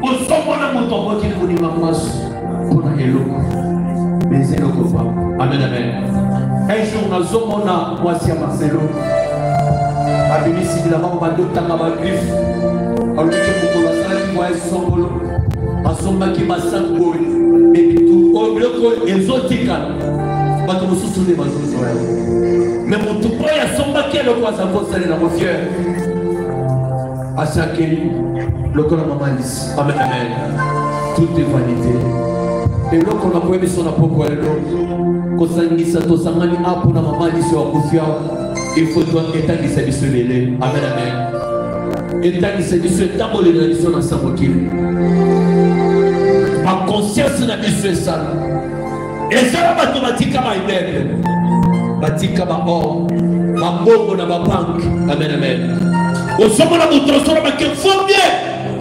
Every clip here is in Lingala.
kozomona moto akoki kondima mwasi mpo na eloko meza eloko pamba amen amen un jour nazomona mwasi ya marcelo babimisi bilamba ngo badotanga bagriffe alobiki mokolo asalaki voyage songolo asombaki masangoi ebitu oyo biloko oyo ezotikala bato mosusu nde bazozwa yango me motu oyo asombaki eloko aza kosalela mofiere asakeli lokola mama lisi amen amen toute vanité eloko na koyebi so na poko ya lelo kosangisa tosangani a mpo na mama lisi ya kufia ifo etangisa biso lele amen amen etangisa biso etamboleli na biso na sa mokili bakonsianse na biso esala ezala bato batika baimeble batika baor mabongo na babanke amen amen ozomona moto osolo bake fo bien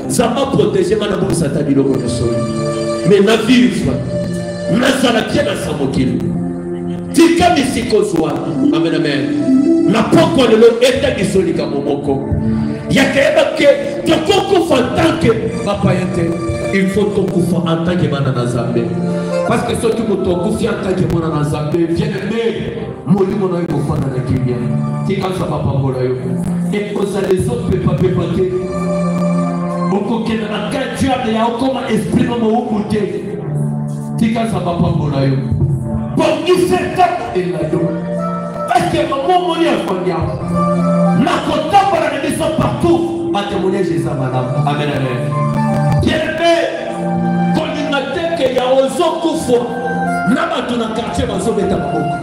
nzambe aprotege nga nabongisa ata biloko nyonso me na vivre nazala te na sa mokili tika misika ozwa amen amen na pokwa lelo etangiso likambo moko yakayeba ke tokokufa ntanke bapaya te il faut tokufa en tant que bana na nzambe Parce que soki moto akufi atake mwana na nzambe bien aime molimo na yo ekofanda na kimia tika nzambe apambola yo ekozala ezopepapepa te okokenda na kati diable ya okoma esprit na mowumbu te tika nzambe apambola yo bongisa ntango elado parceke mamomoni afandi yango nakotambola na biso partout batemoignage eza malamu amen amen bien aime Kolinga te ke ya ozo kufwa na bato na quartier bazobeta maboko.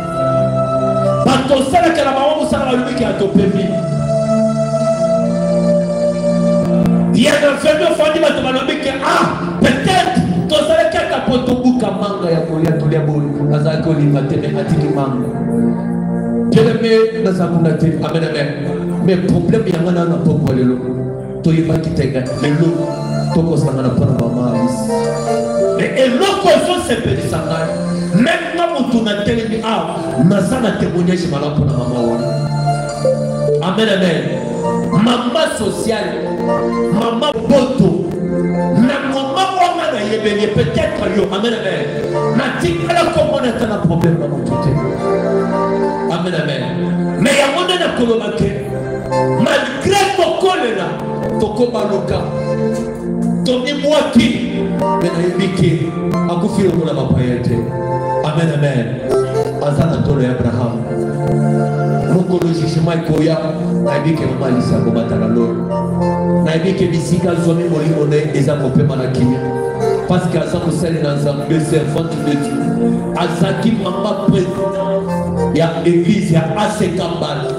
Bato osalaka na bango mosala balobi ke atopemi. Ya na fendo fandi bato balobi ke ah peut-être tozalaki ata po tobuka manga ya kolia tolia boni azalaki kolinga te me atiki manga. Bien aimé, naza kuna te. Amen amen. Mais problème yanga na na pokwa lelo. toyebaki te lelo tokosangana mpo na mama alice me eloko ezosepelisa ngai meme nga motu na telemi awa naza na témoignage malamu mpo na mama wana amen amen mama sociale mama boto na mama wana nayebeli ye peut-être yo amen amen natikala komona ata na problème na motu te amen amen me yango nde nakoloba te mali grève kokolela tokobaluka tomibwaki me nayebi ke akufi lokola bapaya te amen amen aza na tolo ya abrahamu mokolo jugema ekoya nayebi ke mama alisa kobataka lolo nayebi ke bisika azwami molimo na ye eza kopema na kimia parce que aza mosali na nzambe servante de dieu azalaki mama president ya église ya asekambala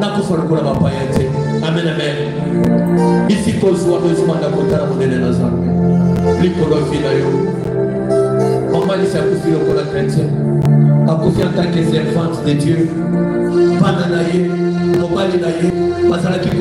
nakufa lokola bapaya te amen amen bisika ozwami ozima ndako otala monene na zambe likolo vi na yo mamalisi akufi lokola chrétien akufi en tant que servante de dieu bana na ye mobali na ye bazalaki